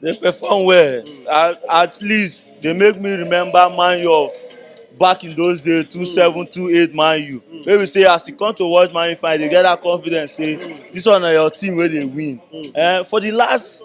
Dey perform well at at least dey make me remember man u of back in those days two seven two eight man u wey be say as u come to watch man u finish dey get that confidence say this one na your team wey dey win um for the last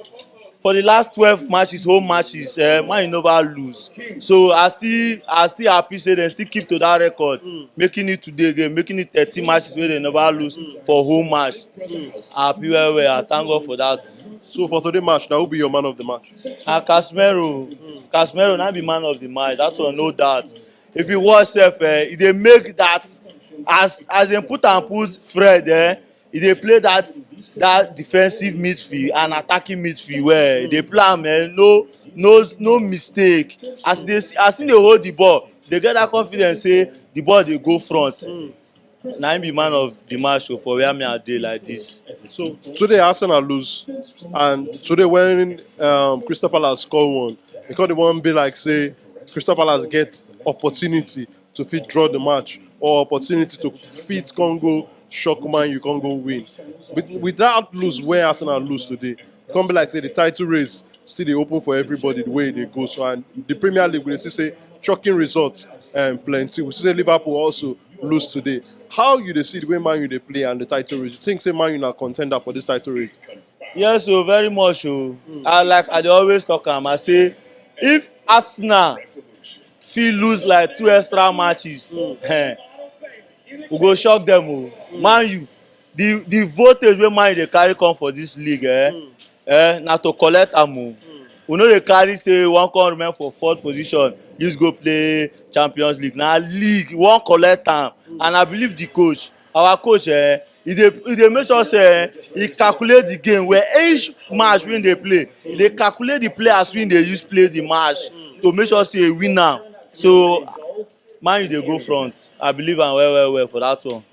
for the last twelve matches home matches um man u never lose so i still i still happy say dem still keep to that record making it today again making it thirteen matches wey dem never lose for home match. um I happy well well, I thank God for that. So for today match, now who be your man of the match? And Casemiro, Casemiro na be man of the match, that one no doubt. If you watch sef, eh, e dey make that as as dem put am put Fred, eh, e dey play that that defensive midfield and attacking midfield well. E dey play am, eh, no no no mistake. As e dey as e dey hold the ball, dey get that confidence say the ball dey go front. na im be man of the match o for where me I dey like this. So today Arsenal lose and today when um, Crystal Palace score one, e come dey wan be like say Crystal Palace get opportunity to fit draw the match or opportunity to fit come go shock man you come go win. With, with that lose where Arsenal lose today, e come be like say the title race still dey open for everybody the way e dey go so and the Premier League we dey see say shocking results um, plenty. We see Liverpool also lose today. How you dey see the way Man U dey play and the title race? You think say Man U na contender for this title race? Yes, so oh, very much. Oh, mm. I like I dey always talk am. I say if Arsenal fit lose like two extra matches, mm. eh, we go shock them. Oh, mm. Man U The the voltage wey man dey carry come for this league eh, mm. eh na to collect am o. Mm. We no dey carry say one come remain for fourth position, this go play Champions League. Na league we wan collect am mm. and I believe the coach, our coach eh, he dey he dey make sure say eh, he calculate the game where each match wey dey play, he dey calculate the players wey dey use play the match mm. to make sure say he win am. So man you dey go front. I believe am well well well for that one.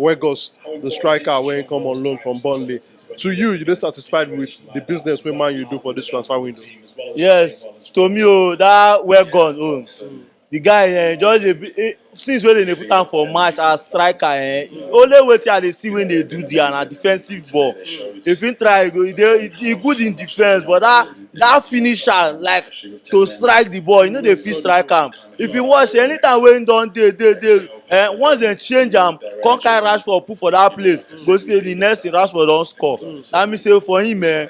Weghorst, the striker wey come on loan from Burnley. To you, you dey satisfied with the business wey Man U do for this transfer window? Yes, to me oh, that Weghorst oh, mm. the guy eh, just dey eh, since wey dem dey put am for match as striker eh, only wetin I dey see wey dey do there na defensive ball. If he try, he go he dey he good in defense, but that that finisher like to strike the ball, he no dey fit strike am. if you wash anytime wey don dey dey dey eh once dem change am come carry rashford put for that place you go see say the next thing rashford don score that mean say for him eh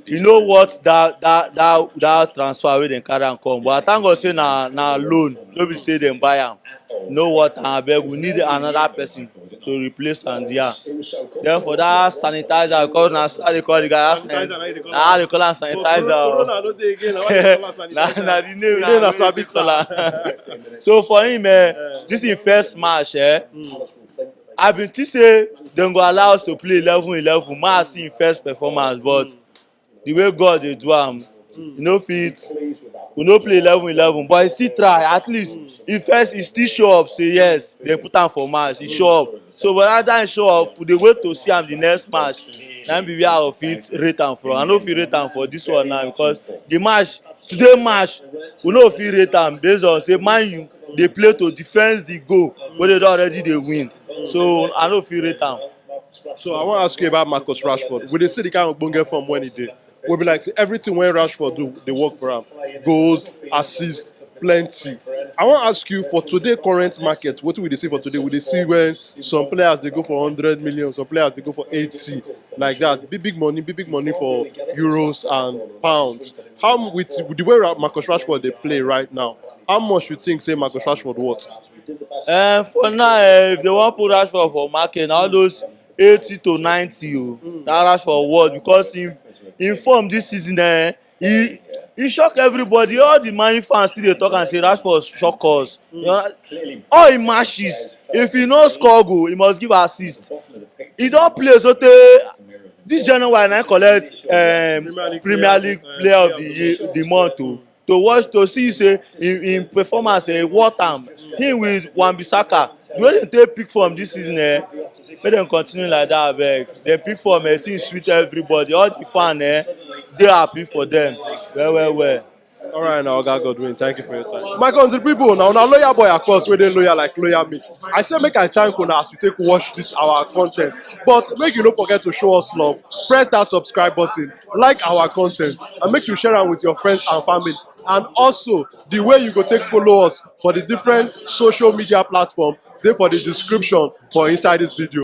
e no worth that that that that transfer wey dem carry am come but i thank god say na na loan no be say dem buy am e no worth am abeg we need another person. to replace am dia. Den for dat sanitizer cos na so I dey call di guy I dey call am sanitizer o na di name na im I dey call am. So for im ehn dis im first match ehn I be tink say dem go allow us to play eleven eleven make I see im first performance but the way God dey do am, you no fit, we no play eleven eleven, but he still try. At least he first he still show up say yes, they put am for match, he show up. So but after he show up, we dey wait to see am the next match. Na him be where I go fit rate am from. I no fit rate am for this one now because the match today match we no go fit rate am based on say Man U dey play to defense the goal wey they don already dey win. So I no fit rate am. So I wan ask you about Marcus Rashford. We dey see the kind of ogbonge form when he dey. We be like say everything when Rashford do dey work for am. Goals, assists, plenty. I wan ask you for today current market, wetin we dey see for today? We dey see when some players dey go for hundred million, some players dey go for eighty, like that. Big big money, big big money for euros and pounds. How with the way Ra- Marcus Rashford dey play right now? How much you think say Marcus Rashford worth? um for now um if they wan put rashford for market na all those eighty to ninety o mm. na rashford worth because him him form this season eh he he shock everybody all the man fans still dey talk am say rashford shock us mm. you know, all him matches if he no score goal he must give assist he don play sotey this january na collect um, premier league player of the year the month o. Oh. to watch to see say im im performance eh, worth am. Him with Wan-Bissaka, the way dem take pick form this season eh, make dem continue like that abeg. Dem pick form eh, things sweet everybody, all the fan eh, dey happy for them well well well. All right, now, Oga Godwin, thank you for your time. My country people, now, now, loyal boy, of course, where they loyal like loyal me. I say, make I thank una as you take watch this our content. But make you don't forget to show us love. Press that subscribe button. like our content and make you share am with your friends and family and also the way you go take follow us for the different social media platform dey for the description for inside this video.